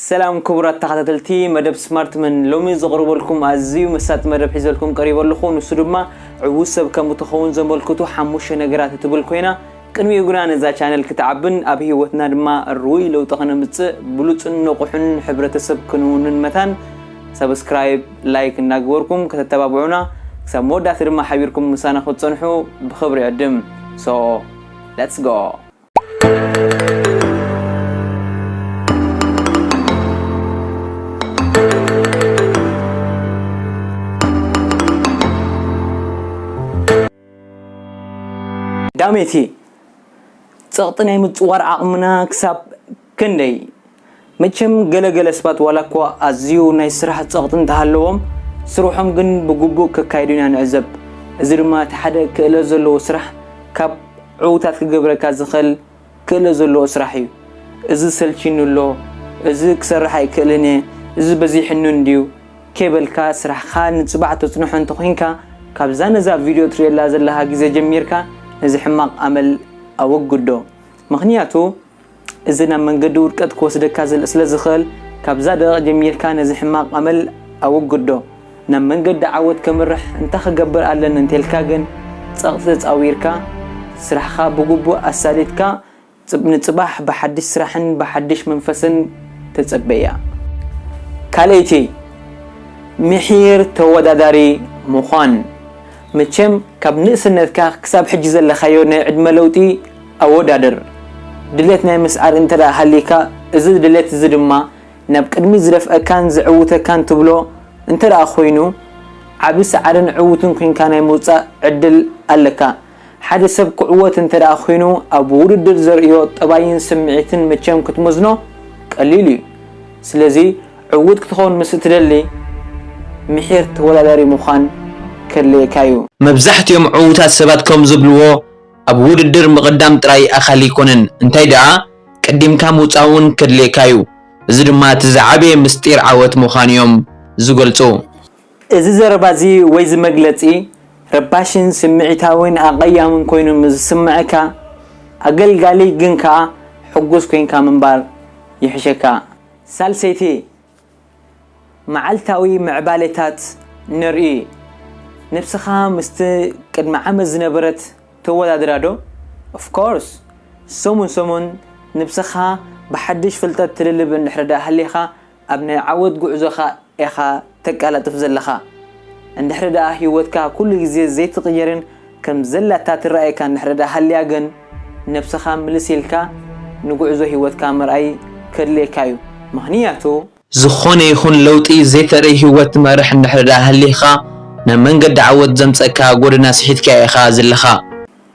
ሰላም ክቡራት ተኻታተልቲ መደብ ስማርት መን ሎሚ ዘቕርበልኩም ኣዝዩ መሳጢ መደብ ሒዘልኩም ቀሪበ ኣለኹ ንሱ ድማ ዕዉት ሰብ ከም እትኸውን ዘመልክቱ ሓሙሽተ ነገራት እትብል ኮይና ቅድሚኡ ግና ነዛ ቻነል ክትዓብን ኣብ ህይወትና ድማ ርኡይ ለውጢ ከነምጽእ ብሉጽን ንቑሕን ሕብረተሰብ ክንውንን መታን ሰብስክራይብ ላይክ እናገበርኩም ከተተባብዑና ክሳብ መወዳእታ ድማ ሓቢርኩም ምሳና ክትጸንሑ ብኽብሪ ዕድም ሶ ሌትስ ጎ ዳሜቴ ፀቕጢ ናይ ምፅዋር ዓቕምና ክሳብ ክንደይ? መቸም ገለ ገለ ስባት ዋላኳ ኣዝዩ ናይ ስራሕ ጸቕጢ እንተሃለዎም ስርሖም ግን ብግቡእ ከካይዱ ኢና ንዕዘብ። እዚ ድማ እቲ ሓደ ክእለት ዘለዎ ስራሕ ካብ ዕውታት ክገብረካ ዝኸእል ክእለት ዘለዎ ስራሕ እዩ። እዚ ሰልቺኒ ኣሎ፣ እዚ ክሰርሕ ኣይክእልን እየ፣ እዚ በዚሕኒ እንድዩ ከይበልካ ስራሕኻ ንጽባሕ ተጽንሖ እንተኮይንካ ካብዛ ነዛ ቪድዮ ትርእየላ ዘለኻ ግዜ ጀሚርካ ነዚ ሕማቕ ኣመል ኣወግዶ። ምኽንያቱ። እዚ ናብ መንገዲ ውድቀት ክወስደካ ስለ ዝኽእል፣ ካብዛ ደቒቕ ጀሚርካ ነዚ ሕማቕ ኣመል ኣወግዶ። ናብ መንገዲ ዓወት ከምርሕ እንታይ ክገብር ኣለኒ እንተልካ ግን፣ ጸቕጢ ተጻዊርካ፣ ስራሕኻ ብግቡእ ኣሳሊጥካ ንጽባሕ ብሓድሽ ስራሕን ብሓድሽ መንፈስን ተጸበያ። ካልኣይቲ፣ ምሒር ተወዳዳሪ ምዃን። መቸም ካብ ንእስነትካ ክሳብ ሕጂ ዘለኻዮ ናይ ዕድመ ለውጢ፣ ኣወዳድር። ድሌት ናይ ምስዓር እንተ ሃልይካ፣ እዚ ድሌት እዚ ድማ ናብ ቅድሚት ዝደፍኣካን ዘዕውተካን ትብሎ እንተ ኾይኑ፣ ዓቢ ሰዓርን ዕውትን ኩንካ ናይ ምውጻእ ዕድል ኣለካ። ሓደ ሰብ ክዕወት እንተ ኩይኑ ኣብ ውድድር ዘርእዮ ጠባይን ስምዒትን መቸም ክትመዝኖ ቀሊል እዩ። ስለዚ ዕውት ክትኸውን ምስ እትደሊ፣ ምሒር ተወዳዳሪ ምዃን ከድልየካ እዩ። መብዛሕትኦም ዕውታት ሰባት ከም ዝብልዎ፣ ኣብ ውድድር ምቕዳም ጥራይ ኣኻሊ ኣይኮነን፣ እንታይ ደኣ ቀዲምካ ምውጻእ እውን ከድልየካ'ዩ። እዚ ድማ እቲ ዝዓበየ ምስጢር ዓወት ምዃኑ'ዮም ዝገልጹ። እዚ ዘረባ'ዚ ወይ'ዚ መግለጺ ረባሽን ስምዒታዊን ኣቐያምን ኮይኑ ምስ ዝስምዓካ፣ ኣገልጋሊ ግን ከኣ ሕጉስ ኮይንካ ምንባር ይሕሸካ። ሳልሰይቲ መዓልታዊ ምዕባሌታት ንርኢ። ነብስኻ ምስቲ ቅድሚ ዓመት ዝነበረት ተወዳድራ ዶ? Of course! ሰሙን ሰሙን ንብስኻ ብሓድሽ ፍልጠት ትልልብ እንድሕሪ ደኣ ሃሊኻ ኣብ ናይ ዓወት ጉዕዞኻ ኢኻ ተቃላጥፍ ዘለኻ። እንድሕሪ ደኣ ሂወትካ ኩሉ ግዜ ዘይትቅይርን ከም ዘላታ ትረኣየካ እንድሕርዳ ሃልያ ግን ነብስኻ ምልስ ኢልካ ንጉዕዞ ሂወትካ ምርኣይ ከድልየካ እዩ ምኽንያቱ። ዝኾነ ይኹን ለውጢ ዘይተርኢ ሂወት ትመርሕ እንድሕርዳ ሃሊኻ ናብ መንገዲ ዓወት ዘምጸእካ ጎደና ስሒትካዮ ኢኻ ዝለኻ።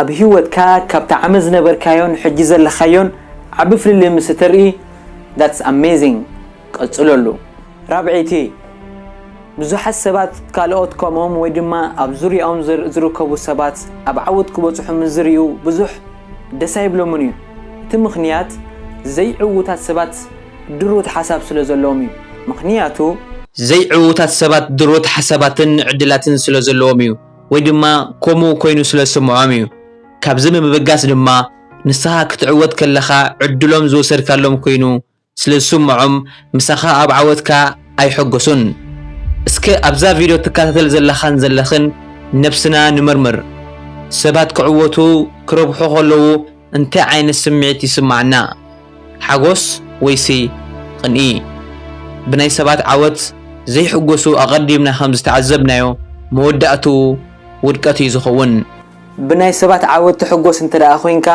ኣብ ሂወትካ ካብቲ ዓመት ዝነበርካዮን ሕጂ ዘለኻዮን ዓቢ ፍልልይ ምስ እተርኢ that's amazing ቀጽለሉ። ራብዐይቲ። ብዙሓት ሰባት ካልኦት ከምኦም ወይ ድማ ኣብ ዙርያኦም ዝርከቡ ሰባት ኣብ ዓወት ክበጽሑ ምስ ዝርእዩ ብዙሕ ደስ ኣይብሎምን እዩ። እቲ ምኽንያት ዘይዕዉታት ሰባት ድሩት ሓሳብ ስለ ዘለዎም እዩ። ምኽንያቱ። ዘይዕዉታት ሰባት ድሩት ሓሳባትን ዕድላትን ስለ ዘለዎም እዩ። ወይ ድማ ከምኡ ኮይኑ ስለ ዝስምዖም እዩ። ካብዚ ብምብጋስ ድማ ንስኻ ክትዕወት ከለኻ ዕድሎም ዝወሰድካሎም ኮይኑ ስለ ዝስምዖም ምሳኻ ኣብ ዓወትካ ኣይሕጎሱን። እስከ ኣብዛ ቪድዮ ትከታተል ዘለኻን ዘለኽን ነብስና ንመርምር። ሰባት ክዕወቱ ክረብሑ ከለዉ እንታይ ዓይነት ስምዒት ይስምዓና? ሓጎስ ወይሲ ቕንኢ? ብናይ ሰባት ዓወት ዘይሕጎሱ ኣቐዲምና ከም ዝተዓዘብናዮ መወዳእትኡ ውድቀት እዩ ዝኸውን። ብናይ ሰባት ዓወት ትሕጎስ እንተደኣ ኮንካ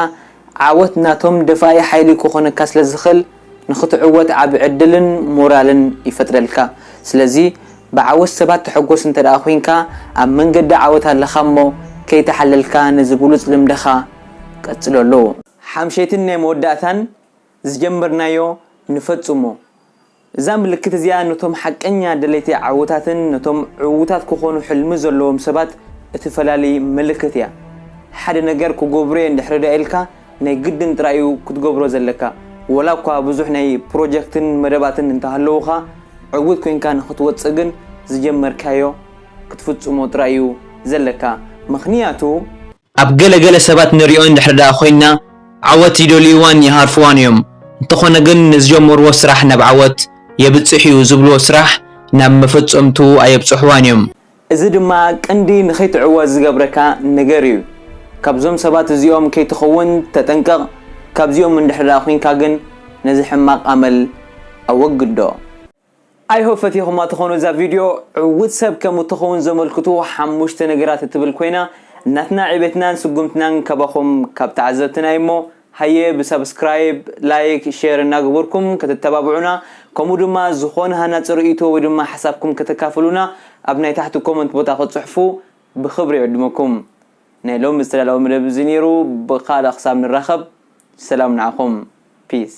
ዓወት ናቶም ደፋኢ ሓይሊ ክኾነካ ስለዝኽል ንኽትዕወት ዓቢ ዕድልን ሞራልን ይፈጥረልካ። ስለዚ ብዓወት ሰባት ትሕጎስ እንተድኣ ኩንካ ኣብ መንገዲ ዓወት ኣለኻ እሞ ከይተሓለልካ ነዚ ብሉጽ ልምድኻ ቀጽለሉ። ሓምሸይትን ናይ መወዳእታን ዝጀመርናዮ ንፈጽሞ። እዛ ምልክት እዚኣ ነቶም ሓቀኛ ደለይቲ ዓወታትን ነቶም ዕዉታት ክዀኑ ሕልሚ ዘለዎም ሰባት እትፈላሊ ምልክት እያ። ሓደ ነገር ክገብሮ እየ እንድሕሪ ደኣ ኢልካ፣ ናይ ግድን ጥራይ እዩ ክትገብሮ ዘለካ። ወላ እኳ ብዙሕ ናይ ፕሮጀክትን መደባትን እንተ ሃለዉኻ፣ ዕዉት ኰይንካ ንኽትወጽእ ግን ዝጀመርካዮ ክትፍጽሞ ጥራይ እዩ ዘለካ። ምኽንያቱ። ኣብ ገለ ገለ ሰባት ንሪኦ እንድሕሪ ደኣ ኮይንና ዓወት ይደልዩዋን ይሃርፉዋን እዮም እንተኾነ ግን ንዝጀመሩዎ ስራሕ ናብ ዓወት የብጽሕ እዩ ዝብሉዎ ስራሕ ናብ መፈጸምትኡ ኣየብጽሑዋን እዮም። እዚ ድማ ቅንዲ ንኸይትዕወት ዝገብረካ ነገር እዩ። ካብዞም ሰባት እዚኦም ከይትኸውን ተጠንቀቕ ካብዚኦም እንድሕሪ ደኣ ኮይንካ ግን ነዚ ሕማቕ ኣመል ኣወግዶ። I hope ፈቲኹማ ትኾኑ እዛ ቪድዮ ዕዉት ሰብ ከም እትኸውን ዘመልክቱ ሓሙሽተ ነገራት እትብል ኮይና ናትና ዕቤትናን ስጉምትናን ካባኹም ካብ ተዓዘብትና እዩሞ ሃየ ብሳብስክራይብ ላይክ ሼር እናገበርኩም ከተተባብዑና ከምኡ ድማ ዝኾነ ሃናጺ ርእይቶ ወይ ድማ ሓሳብኩም ከተካፍሉና ኣብ ናይ ታሕቲ ኮመንት ቦታ ክትጽሕፉ ብኽብሪ ይዕድመኩም ናይ ሎሚ ዝተዳለወ መደብ እዚ ነይሩ ብኻልእ ክሳብ ንራኸብ ሰላም ንዓኹም ፒስ